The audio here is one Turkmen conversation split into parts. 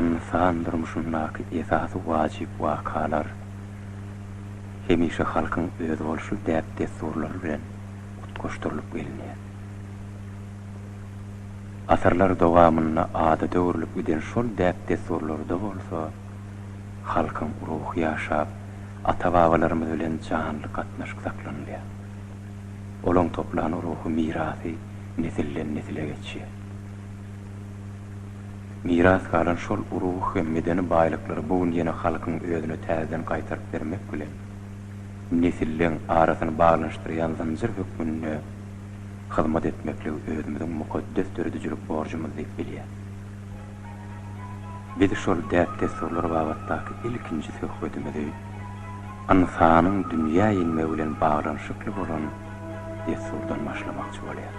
Ynsan durmuşyndaky esasy wajyp wakalar hemişe halkyň özboluşly däp-dessurlary bilen utgaşdyrylyp gelinýär. Asyrlar dowamynda adada öwrülip giden şol däp-dessurlarda bolsa halkyň ruhy ýaşap, ata-babalarymyz bilen janly gatnaşyk saklanylýar. Olaň toplan ruhy mirasy nesilden-nesile geçýär. Miras galan şol ruh hem medeni baýlyklary bu gün ýene halkyň özüne täzeden gaýtaryp bermek bilen, nesilleň arasyny baglanyşdyrýan zynjyr hökmünde hyzmat etmekligi özümiziň mukaddes döredijilik borjumyz diýip bilýäs. Biz şol däp-dessurlar babatdaky ilkinji söhbedimizi. ynsanyň dünýä inmegi bilen baglanyşykly bolan dessurdan başlamakçy bolýar.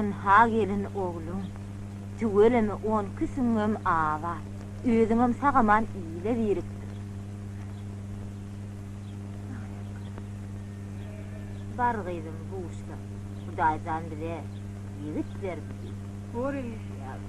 Ynha gelin ogluň. Tüweleme on iki süňňüňem abat. Özüňem sag-aman ile birikdir. Bar gyzym buşla. Hudaýjan bize ýigit berdi diý. Bor eneje ýaly.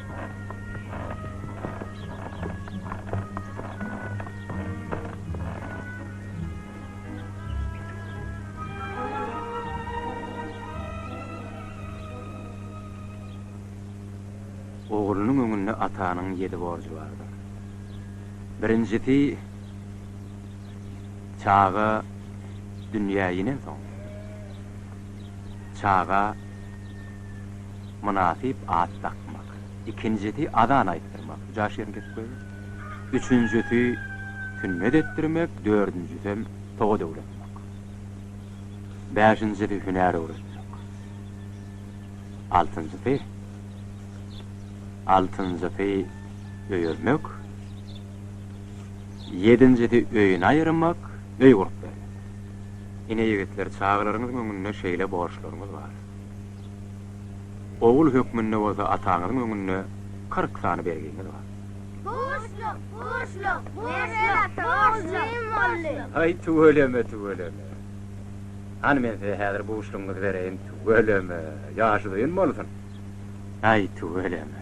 Oglunyň öňünde atanyň ýedi borjy bardyr. Birinjisi, çaga dünýä inensoň, çaga. Mynasyp at dakmak. Ikinjisi azan aýtdyrmak, bu jaş ýeriň gep gözi. Üçünjisi sünnet etdirmek, dördünjisem sowat öwretmek. Bäşinjisi hünär öwretmek. Altynjysy Altynjysy öýermek. Ýedinjisi öýüni aýyrmak, öý gurup bermek. Ine ýigitler, çagalaryňyzyň öňünde şeýle borçlaryňyz bar. Ogul hökmünde bolsa ataňyzyň öňünde kyrk sany bergiňiz bar. Borçluk, borçluk, borçluk, borçluk, borçluk. Haý, tüweleme, tüweleme. Hany men size häzir buşlugyňyzy bereýin, tüweleme, ýaşy uzyn bolsun. Haý, tüweleme.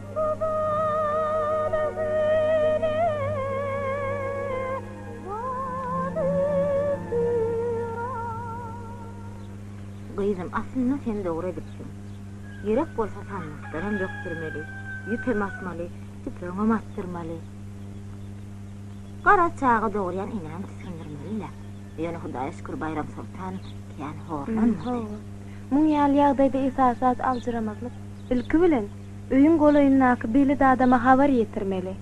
Gyzym, aslynda sen dogry edipsiň. Ýürek bolsa sandykldanam bökdürmeli, ýüpem asmaly, tüpeňem atdyrmaly. Garaz, çaga dogurýan enäni tisgindirmeli-le. Ýöne Hudaýa şükür Baýramsoltan kän horlanmady. Muň ýaly ýagdaýda esasy zat aljyramazlyk. Ilki bilen, Öýüň golaýyndaky belet adama habar ýetirmeli.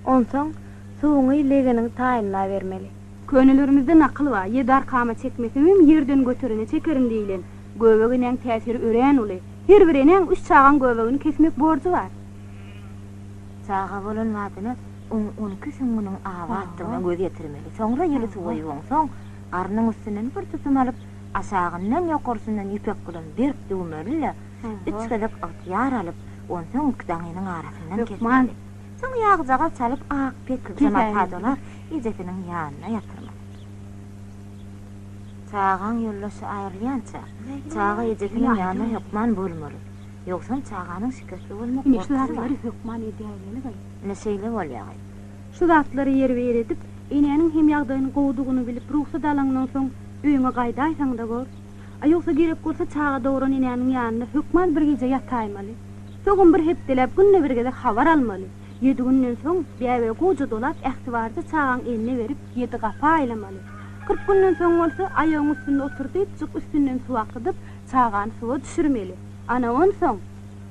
Onsoň suwuňy legeniň taýynda bermeli. Könelerimizde nakyl bar, Ýedi arkama çekmeseňem, ýerden göterene çekerin diýilen. Göbek enäň täsiri örän uly. Her bir enäň üç çagaň göbegini kesmek borjy bar. Çaga bolan badyna oň on iki süňňüniň abatdygyna göz ýetirmeli. Soňra ýyly suwaýyp oňsoň, garnyň üstünden bir tutum alyp, aşagyndan, ýokarsyndan ýüpek bilen berk düwmeli-de, Üç gezek ygtyýar alyp, onsoň iki daňynyň arasyndan kesmeli. Soň ýagjagaz çalyp, ak pejama padalap, ejesiniň ýanyna ýatyrmaly. Çagaň ýoldaşy aýrylýança, çaga ejesiniň ýanyna hökman bolmaly. Ýogsam çaganyň şikesli bolmak gorkusy bar. Ine şeýle bolýagaý. Şu zatlary ýerbi-ýer edip, enäniň hem ýagdaýyň gowudygyny bilip rugsat alaňdan soň öýüňe gaýdaýsaň-da bor. A ýogsa gerek bolsa çaga dogran enäniň ýanynda hökman bir gije ýataýmaly. Soňam bir hepdeläp günde bir gezek habar almaly. Ýedi günden soň bäbe gowja dolap ähtibarja çagaň eline berip ýedi gapa aýlamaly. Kyrk günden soň bolsa aýagyň üstünde otur diýipjik üstünden suw akydyp çagany suwa düşürmeli. Ana onsoň.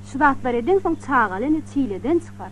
Şu zatlary edeňsoň çagaly ene çileden çykar.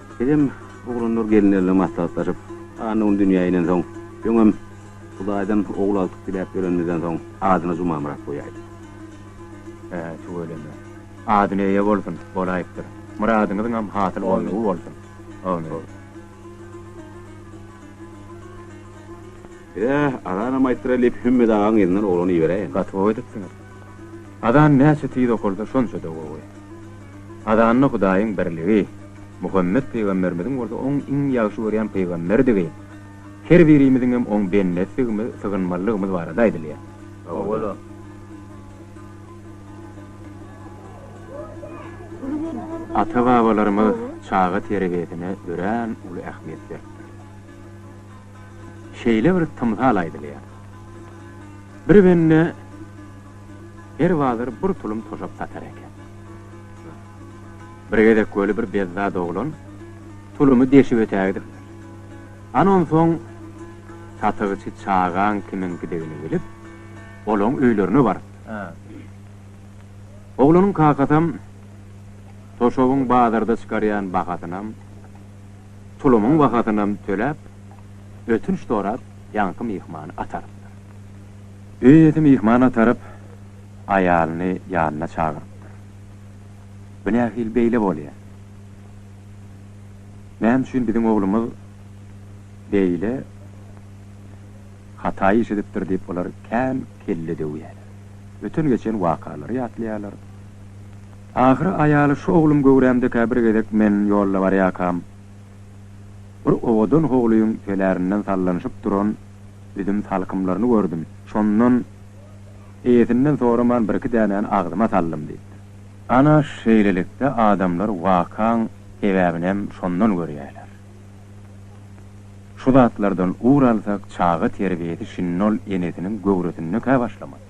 Bizem oglanlar gelinlerle maslahatlaşyp, Anna un dünýä inensoň, öňem Hudaýdan ogul aldyk diläp ýörenimizden soň, adyna Jumamyrat goýaýdyk. Hä, tüweleme. Adyny eýe bolsun, bolaýypdyr. Myradyňyzyňam hasyl bolnugy bolsun. Amin. Bize azanam aýtdyraýlyp, Hümmet agaň yzyndan oglany iberäýen. Gaty gowy edipsiňiz. Azan näçe tiz okalsa şonça-da gowy. Azanda Hudaýyň birligi, Muhammet pygamberimiziň bolsa oň iň ýagşy görýän pygamberdigi, her birimiziňem oň bendesidigimiz, sygynmalydygymyz barada aýdylýar. Owala. Ata-babalarymyz çaga terbiýesine örän uly ähmiýet beripdir. şeýle bir tymsal aýdylýar. Bir bende her bazar bir tulum toşap satar eken. Bir gezek weli bir bezzat oglan tulumy deşip ötägidipdir. Ana onsoň satygçy çagaň kimiňkidigini bilip, olaň öýlerine barypdyr. Oglanyň kakasam toşabyň bazarda çykarýan bahasynam, Tulumyň bahasynam töläp, ötünç sorap ýaňky myhmany atarypdyr. Öý ýesi myhman ataryp, aýalyny ýanyna çagyrypdyr. Bu nähili beýle bolýar? Näme üçin biziň oglumyz beýle hata iş edipdir diýip olar kän kelle döwýärler. Öten-geçen wakalary ýatlaýarlar. Ahyry aýaly şu oglum göwrämdekä bir gezek men ýolda barýakam, bir owadan howlyň tölerinden sallanyşyp duran üzüm salkymlaryny gördüm. Şondan eýesinden soraman birki dänäni agzyma saldym diýipdir. Ana, şeýlelikde adamlar wakaň sebäbinem şondan görýärler. Şu zatlardan ugur alsak çaga terbiýesi şindol enesiniň göwresindekä başlamaly.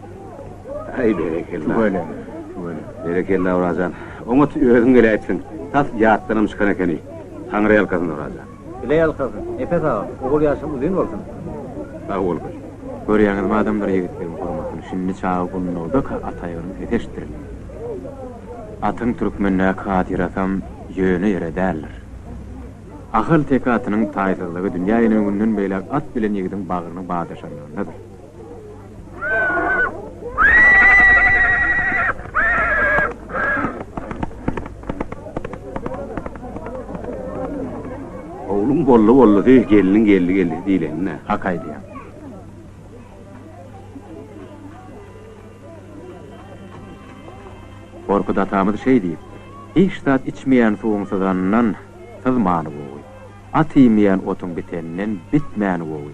Aý berekella. Tüweleme, tüweleme. Berekella Orajan. Oňat özüň geläýipsiň. Tas ýatdanam çykan ekeni. Taňry ýalkasyn Orajan. Bile ýalkasyn. Nepes aga, ogul ýaşyň uzyn bolsun. Sag bol gyz. Görýäňizmi adamlar ýigitleriň hormatyny şindi çaga gundagdaka at aýagynyň sesi eşitdirilýär. Atyň türkmendäki hatyrasyam ýöne ýere däldir. Ahalteke atynyň taýsyzlygy dünýä inen günden beýläk at bilen ýigidiň bagryny badaşanlygyndadyr. Oglum bolly bolly diý, gelniň geldi geldi diýlenine hak aýdýar. Gorky datamyz şeý diýip, hiç zat içmeýän suwuň syzanyndan syzmany gowy. At iýmeýän otuň biteninden bitmäni gowy.